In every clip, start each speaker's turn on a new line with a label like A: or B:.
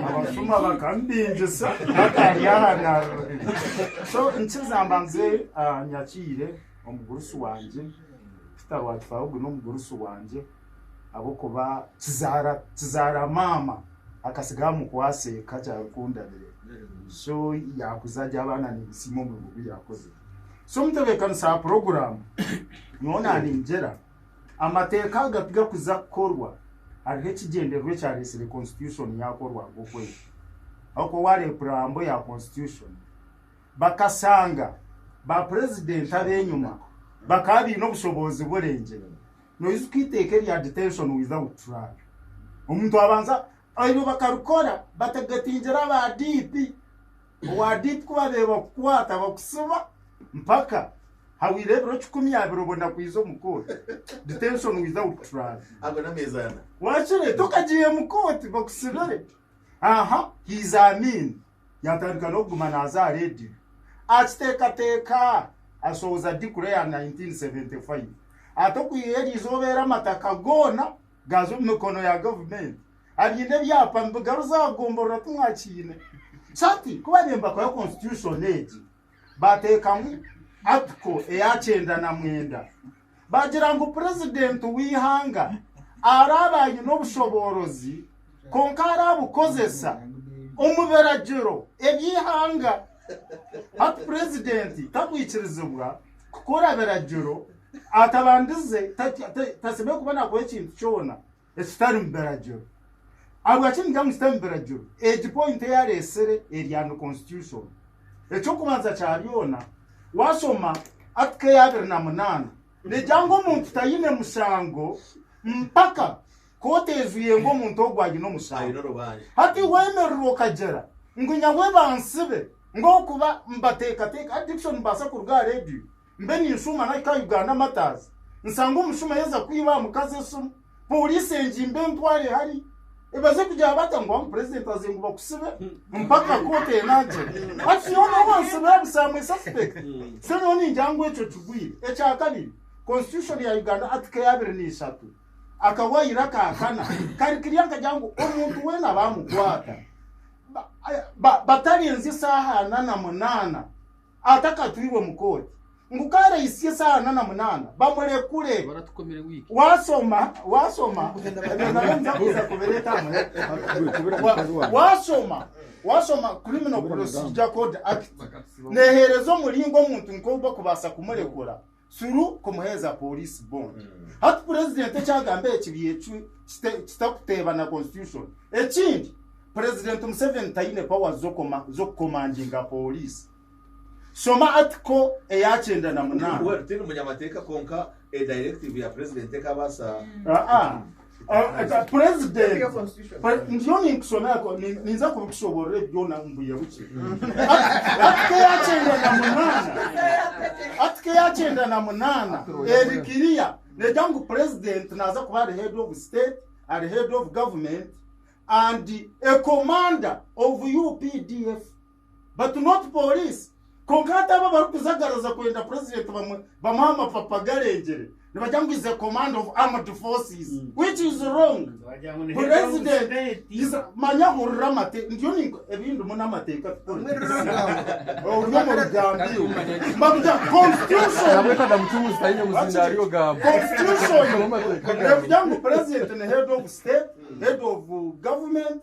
A: Abashuma bakamubingisa bakari aha narurira so nkiza mbanze ah, nyakiire omugurusi wangye Peter Rwakifa ogu n'omugurusi wangye ahabw'okuba kizaara kizaara maama akasigaho amukwase eka kyarikundabire so yakuza arya abaana nibisiima omurimo ogu yakozire so mutebeekanisa aha puroguraamu nyowe naningyera Amateeka aga tigakuza kukorwa, hariho ekigyendererwa ekyaretsire Konsitushoni yakorwa nk'okwezi. Ahabw'okuba waareeba puraambo ya Konsitushoni, bakashanga ba purezidenti ab'enyima bakaba baine obushoboozi burengyere. Noijuka eiteeka erya Detention Without Trial? Omuntu abanza, eryo bakarikora batagetingire aba DP owa DP ku baabaire bakukwata bakutsiba mpaka hahweire ebiro kikumi abiri obwo nakwija omu kooti detention without trial ago n'ameezi ana
B: wakire tokagiire
A: mu kooti bakusibire aha hizaamiini yatandika n'okuguma naaza aha rediyo akiteekateeka ashohoza dikura ya 1975 ati okwiha eri izooba eri amataka goona gaaza omu mikono ya gavumenti abaine ebyapa nibigaruza aha gomborora timwakiine Kati kuba nembakoya constitution egi batekamu article eya kyenda na mwenda bagira ngu president weihanga araabe aine obushoboorozi kwonka arabukozesa omu biragiro ebyeihanga hati president takwikirizibwa kukora biragiro atabandize tasemeriire kuba nakora ekintu kyona. ekitarimu biragiro. Ahabwaki ningira ngu kitarimu biragiro? Egi point ei areetsire eri under constitution. Eky'okubanza kya byona, waashoma Article ya abiri na munaana negira ngu omuntu taine mushango mpaka kooti eijwire ngu omuntu ogwo aine omushango. Hati weemerera okagira ngu nyawe bansibe, ngu ahabw'okuba mbateekateeka addiction nibaasa kuruga aha reediyo? mbe ninshuuma nahika aha Uganda Martyrs nsange omushumo yaza kwiba aha mukazi esimu Poliisi engimbe entware hari ebaze kugira bata ngu amu President aze ngu bakusibe mpaka kooti enangira hati nyowe nobu bansibira busa am a suspect so nyowe ningira ngu ekyo kigwire ekyakabiri Constitution ya Uganda Article ya abiri n'eshatu akawayiro aka kana kari kirya nkagira ngu omuntu weena bamukwata ba- ba- batarenzya esaaha ana na munaana atakatwirwe mu kooti ngu kaareitsya esaaha ana na munaana bamurekure.
C: Waashoma
A: waashoma Criminal Procedure Code Act neeheereza omuringo omuntu nk'ogu barikubaasa kumurekura. Suru kumuheeza police bond. Hati president ekyagamba eki byecwe kite- kitakuteeba na constitution. Ekindi president Museveni taine powers z'okoma- z'okukomandinga police. Shoma article eyakyenda na munaana. Well, tindi munyamateeka
B: kwonka a directive ya president ekabaasa Ah, ah.
A: purezidenti ndiyo ninkusomera ninza kubikushoborera ebi byona mbuya buki atike yakyenda na munana atike yakyenda na munana eri kiriya nejya ngu purezidenti naza kuba ari head of state ari head of government and a commander of updf batu not police kwonka hati abo abarikujagaraza kwenda president bamwe bamuha amapapa garengyere nibagira ngu is a command of armed forces mm. which is wrong president is manya hurira amate ndiyo ninko ebindimu n'amateeka tukorori omu rugambi mbakugira constitution
C: constitution
A: ngu president ni head of state head of government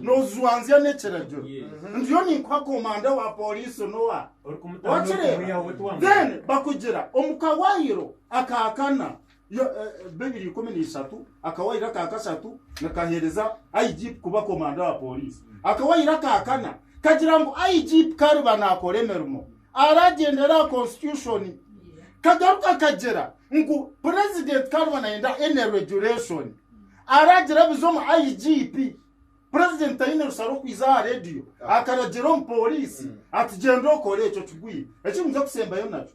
A: Nojwanzya nekiragiro ndiyo ninkuha komanda wa police nowa wakireba then bakugira omu kawayiro akakana yo eh, bibiri ikumi n'ishatu akawayiro akakashatu nikahereza igp kuba komanda wa police akawayiro akakana kagira ngu igp kariba nakora emirimo aragyendera aha constitution kagaruka kagira ngu president kariba nayenda any regulation Araagira abize omu IGP. Purezidenti taine rusa rw'okwija aha rediyo akaragira omupooriisi ati, Gyenda okore ekyo kigwire eki niija kusembayo nakyo.